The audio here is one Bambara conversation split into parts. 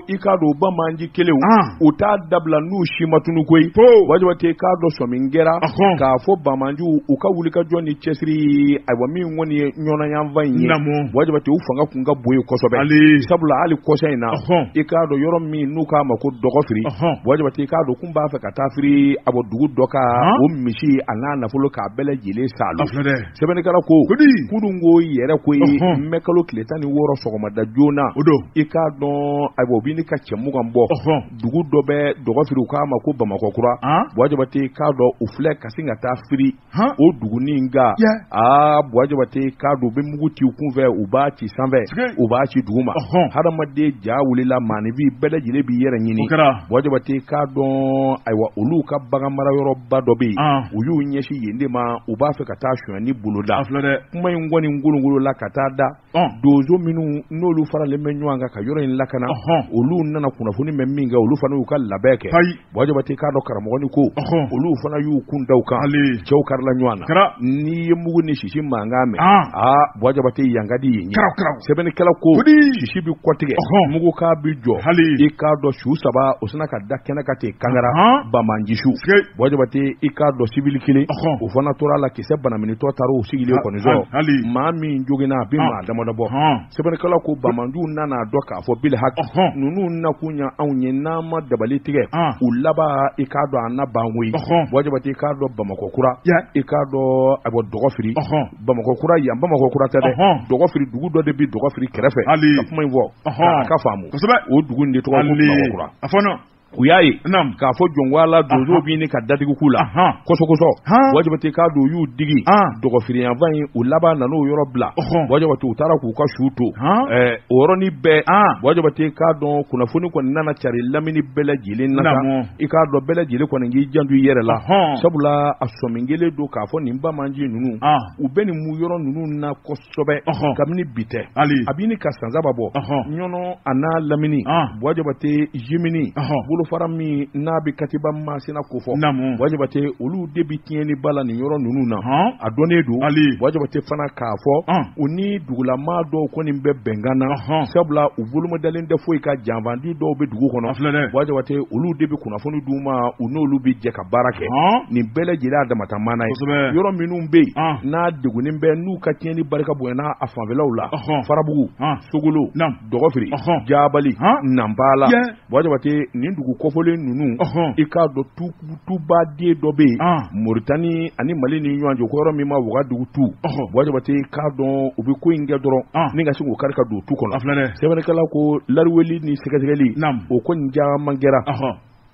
i k'a dɔn banbaanci kɛlɛ u t'a dabila n'u si ma tunu koyi buwa jabatɛ i k'a dɔn sɔmi kɛra k'a fɔ banbaanciw u ka wulikajɔ ni cɛsiri ayiwa min kɔni ye ɲɔnɔ yanfan in ye buwa jabatɛ u fanga kun ka bon yen kosɛbɛ sabula hali kɔsa in na i k'a dɔn yɔrɔ min n'u k'a ma ko dɔgɔfiri buwa jabatɛ i k'a dɔn kun b'a fɛ ka taa firi a bɔ dugu dɔ kan o misi a n'a nafolo k'a bɛɛ lajɛlen sa Sɛbɛnnikɛla ko kunun ko yɛrɛ ko ye mɛ kalo tile tan ni wɔɔrɔ sɔgɔmada joona o i k'a dɔn ayiwa u bɛ ɲini ka cɛ mugan bɔ dugu dɔ bɛ dɔgɔfiri u k'a ma ko bamakɔkura buwa jabatɛ k'a dɔn u filɛ ka sin ka taa firi o dugu nin kan aa buwa jabatɛ k'a dɔn u bɛ mugu ci kun fɛ u b'a ci sanfɛ u b'a ci duguma hadamaden ja wulila maaninfin bɛɛ lajɛlen b'i yɛrɛ ɲini Buwa jabatɛ k'a dɔn ayiwa olu ka bagan mara yɔrɔba dɔ bɛ yen u y'u ɲɛsin yen de ma u b'a fɛ ka taa sonyanni boloda kuma in kɔni kolonkolonna ka taa da donso minnu n'olu faralen bɛ ɲɔgɔn kan ka yɔrɔ in lakana olu nana kunnafoni mɛn minkɛ olu fana y'u ka labɛn kɛ buwa jabatɛ k'a dɔn karamɔgɔnin ko olu fana y'u kun da u kan cɛw karila ɲɔgɔn na n'i ye mugu ni sisi mankan mɛn aa buwa jabatɛ yan ka di yen ye sɛbɛnnikɛla ko sisi bɛ kɔtigɛ mugukan bɛ jɔ i k'a dɔn su saba o sina ka da kɛnɛ kan ten kangara banbaanci su buwa jabatɛ i k'a dɔn siwili kelen o fana tora a la kisɛ banaminitɔ taara o sigilen kɔni sɔrɔ maa min joginna a bɛ maa damadɔ bɔ Sɛbɛnnikɛla ko banbaanciw nana a dɔn k'a fɔ bil haki ninnu nakun ye anw ye n'an ma dabali tigɛ u laban i k'a dɔn an na ban koyi buwa jabatɛ i k'a dɔn bamakɔkura i k'a dɔn a bɔ dɔgɔfiri bamakɔkura yan bamakɔkura tɛ dɛ dɔgɔfiri dugu dɔ de bɛ dɔgɔfiri kɛrɛfɛ ka kuma in fɔ a ka faamu o dugu de tɔgɔ kura u y'a ye k'a fɔ jɔn ko ala donso bɛ ɲini ka da tugu u la kosɔkosɔ buwa jabatɛ k'a dɔn u y'u digi dɔgɔfiri yanfan in u laban nana o yɔrɔ bila buwa jabatɛ u taara k'u ka su to o yɔrɔnin bɛɛ buwa jabatɛ k'a dɔn kunnafoni kɔni nana cari lamini bɛɛ lajɛlen na i k'a dɔn bɛɛ lajɛlen kɔni k'i janto i yɛrɛ la sabula a sɔmi kɛlen don k'a fɔ nin banbaanci ninnu u bɛ nin mu yɔrɔ ninnu na kabini bi tɛ a bɛ ɲini ka san saba bɔ ɲɔnɔ a n'a lamini buwa jabatɛ jimini bolofara min n'a bɛ katiba masina kofɔ buwa jabatɛ olu de bɛ tiɲɛniba la nin yɔrɔ ninnu na a dɔnnen don buwa jabatɛ fana k'a fɔ u ni dugulama dɔw kɔni bɛ bɛnkan na sabula u boloma dalen tɛ foyi kan janfanci dɔw bɛ dugu kɔnɔ buwa jabatɛ olu de bɛ kunnafoni d'u ma u n'olu bɛ jɛ baara kɛ nin bɛɛ lajɛlen damata mana ye yɔrɔ minnu bɛ yen n'a degunnen bɛ n'u ka tiɲɛni barika bonyana a fanfɛlaw la farabugu sogolo dɔgɔfiri jabali nanpala buwa jabatɛ nin dugu kɔfɔlen ninnu i k'a dɔn tuba de dɔ bɛ yen moritani ani mali ni ɲɔgɔn cɛ ko yɔrɔ min ma wagadugu tu buwa jabatɛ i k'a dɔn u bɛ ko in kɛ dɔrɔn ni ka se k'u kari ka don tu kɔnɔ sɛbɛnnikɛla ko lariweli ni sɛgɛsɛgɛli o ko nin caman kɛra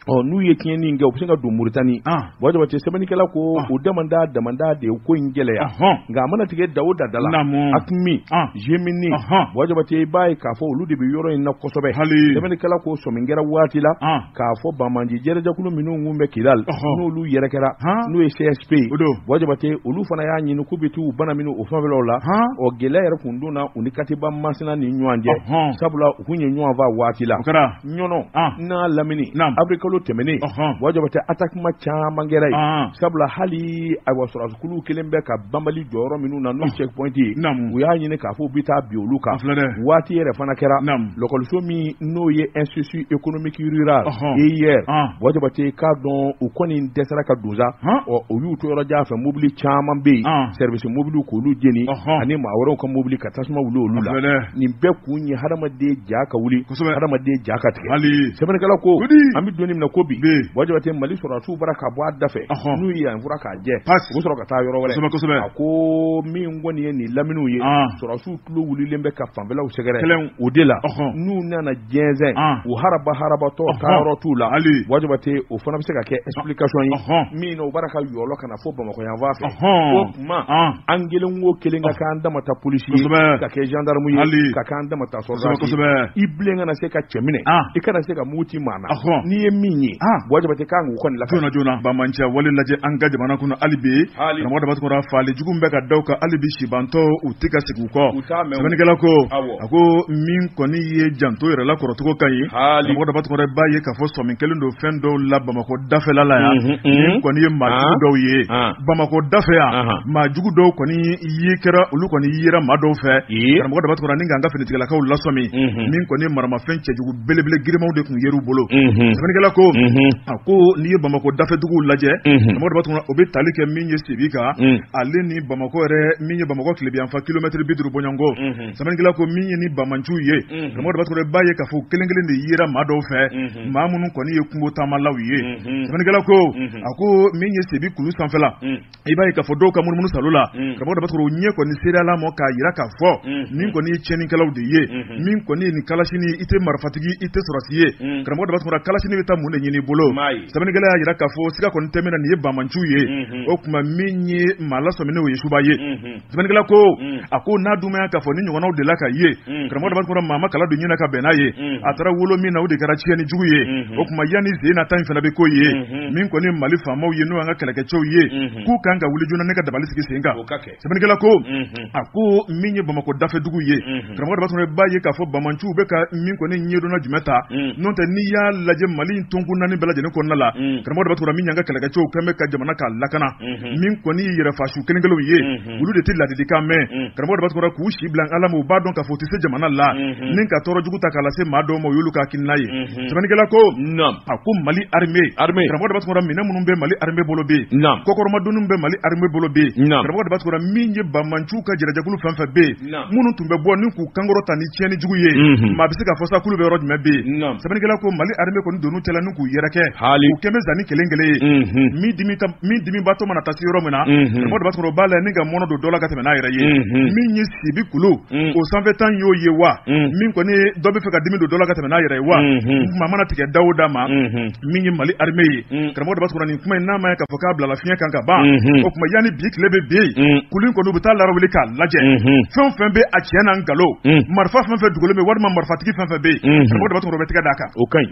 Ɔ n'u ye tiɲɛni in kɛ u bɛ se ka don Mauritanie an Buwa Jabatɛ sɛbɛnnikɛla ko an o damanda damanda de ye ko in gɛlɛya ɔhɔn nka a mana tigɛ da o da da la Naamu. AQMI an JNIM ɔhɔn Buwa Jabatɛ i b'a ye k'a fɔ olu de bɛ yɔrɔ in na kosɛbɛ hali sɛbɛnnikɛla ko sɔmin kɛra waati la an k'a fɔ banbaanci jɛrɛjɛkulu minnu kun bɛ Kidal Ɔhɔn. n'olu yɛrɛ kɛra han n'o ye CSP ye o don Buwa Jabatɛ olu fana y'a ɲini k'u bɛ t'u bana minɛ o fanfɛlaw la han ɔ gɛlɛya yɛrɛ kun donna u ni Katiba Masina ni ɲɔgɔn cɛ ɔhɔn sabula u kun ye ɲɔgɔn faa waati la o kɛra ɲɔnɔ n'a lamini avril kalo tɛmɛnen buwa jabatɛ attaquement caman kɛra yen sabula hali ayiwa sɔrɔdasikulu kelen bɛ ka banbali jɔyɔrɔ minnu na n'o checkpoint ye u y'a ɲini k'a fɔ u bɛ taa bin olu kan waati yɛrɛ fana kɛra lakɔliso min n'o ye institut économique rural IER buwa jabatɛ k'a dɔn u kɔni dɛsɛra ka don sa ɔ u y'u to yɔrɔ jan fɛ mobili caman bɛ yen service mobili k'olu jeni ani maa wɛrɛw ka mobili ka tasuma wuli olu la nin bɛɛ kun ye hadamaden ja ka wuli hadamaden ja ka tigɛ sɛbɛnnikɛla ko an bɛ don min na ko bi buwa jabatɛ mali sɔrɔdasiw bara ka bɔ a da fɛ n'u ye yan furan k'a jɛ u bɛ sɔrɔ ka taa yɔrɔ wɛrɛ a ko min kɔni ye nin laminiw ye sɔrɔdasiw tulo wulilen bɛ ka fanfɛlaw sɛgɛrɛ o de la n'u nana jɛnsɛn u haraba harabatɔ taa yɔrɔ t'u la buwa jabatɛ o fana bɛ se ka kɛ explication ye min na u bara ka yɔlɔ ka na fo bamakɔ yan fan fɛ o kuma an kelen o kelen ka k'an dama ta polisi ye ka kɛ jandamu ye ka k'an dama ta sɔrɔdasi i bilen kana se ka cɛ minɛ i kana se ka mugu ci maa na n'i ye min ye buwa jabatɛ k'an k'u kɔni la joona joona banbaanciya wale lajɛ an ka jamana kɔnɔ hali bi karamɔgɔ daba tunkara faali jugu bɛ ka da u kan hali bi sibantɔ u tɛ ka segin u kɔ sɛbɛnnikɛla ko A ko min kɔni ye janto yɛrɛ la kɔrɔcogo ka ɲi karamɔgɔ daba tunkara b'a ye k'a fɔ sɔmi kɛlen don fɛn dɔw la bamakɔ dafɛla la yan min kɔni ye maa jugu dɔw ye bamakɔ dafɛ yan maa jugu dɔw kɔni ye kɛra olu kɔni yera maa dɔw fɛ karamɔgɔ daba tunkara ni k'an ka finitigilakaw lasɔmi min kɔni ye maramafɛn cɛjugu belebele girinmanw de tun yer'u bolo sɛbɛnnikɛla ko a ko n'i ye bamakɔ dafɛduguw lajɛ karamɔgɔ daba tunkara o bɛ tali kɛ min ye sibi kan ale ni bamakɔ yɛrɛ min ye bamakɔ tilebinyanfan kilomɛtiri bi duuru bɔɲɔgɔnko sɛbɛnnikɛla ko min ye ni bamanciw ye karamɔgɔ daba tunkara b'a ye k'a fɔ kelen kelen de yera maa dɔw fɛ maa minnu kɔni ye kungo taamalaw ye sɛbɛnnikɛla ko a ko min ye sibi kulu sanfɛla i b'a ye k'a fɔ dɔw ka munumunu salo la karamɔgɔ daba tunkara o ɲɛ kɔni seereyala ma k'a yira k'a fɔ min kɔni ye tiɲɛnikɛlaw de ye min kɔni ye ni kalasini i tɛ marifatigi i tɛ sɔrɔdasi ye karamɔgɔ daba tunkara kalasini bɛ taa mun de ɲini i bolo sɛbɛnnikɛla y'a yira k'a fɔ siga kɔni tɛ min na nin ye bamanciw ye o kuma min ye maa lasɔmin'o ye suba ye Sɛbɛnnikɛla ko unh a ko n'a dun ma ye k'a fɔ nin ɲɔgɔnnaw delila ka ye unh karamɔgɔ Daba Tunkara maa ma kala don ɲin na ka bɛn n'a ye unh a taara wolo min na o de kɛra tiɲɛni jugu ye unhun o kuma yanni sen na ta in fana bɛ k'o ye unhun min kɔni ye Mali faamaw ye n'o y'an ka kɛlɛkɛcɛw ye unhun k'u kan ka wuli joona ni ka dabali sigi sen kan o ka kɛ sɛbɛnnikɛla ko unhun a ko min ye Bamakɔ dafɛdugu ye unhun karamɔgɔ Daba Tunkara b'a ye k'a fɔ bamanciw bɛ ka min kɔni ɲɛdonna jumɛn ta unh n'o tɛ n'i y'a lajɛ Mali in tonkun naani bɛɛ lajɛlen kɔnɔna la unh karamɔgɔ Daba Tunkara min y'an ka kɛlɛkɛcɛw kɛlen bɛ ka jamana k'a lakana min kɔni ye yɛrɛfasu kelen kelenw ye olu de tɛ ladilikan mɛn karamɔgɔ daba tunkara k'u si bila ala ma u b'a dɔn k'a fɔ u tɛ se jamana la ni ka tɔɔrɔ jugu ta k'a lase maa dɔw ma o y'olu ka hakilina ye sɛbɛnnikɛla ko a ko mali armée karamɔgɔ daba tunkara minɛn minnu bɛ mali armée bolo bɛ yen kɔkɔrɔmadonniw bɛ mali armée bolo bɛ yen karamɔgɔ daba tunkara min ye bamanciw ka jɛrɛjɛkulu fɛn o fɛn bɛ yen minnu tun bɛ bɔ ni k'u kankɔrɔta ni tiɲɛni jugu ye maa bɛ se k'a fɔ sa kulu bɛ yɔrɔ jumɛn bɛ yen sɛbɛnnikɛla ko mali armée kɔni donn'u cɛla ni k'u yɛrɛkɛ u kɛlen bɛ zanni kelen kelen ye min dimibaatɔ mana taa se yɔrɔ min na karamɔgɔ daba tunkara b'a la ni ka mɔnɛ don dɔ la ka tɛmɛ n'a yɛrɛ ye min ye sibi kulu o sanfɛ tan y'o ye wa min kɔni dɔ bɛ fɛ ka dimi don dɔ la ka tɛmɛ n'a yɛrɛ ye wa maa mana tigɛ da o da ma min ye mali armée ye karamɔgɔ daba tunkara nin kuma in n'a ma ye k'a fɔ k'a bilala fiɲɛ kan ka ban o kuma yanni bi tile bɛ bin kulu in kɔni u bɛ taa lawuli k'a lajɛ fɛn fɛn bɛ a tiɲɛ n'a nkalon marifa fɛn fɛn dogolen bɛ walima marifatigi fɛn fɛn bɛ yen karamɔgɔ daba tunkara u bɛ tɛgɛ d'a kan o ka ɲi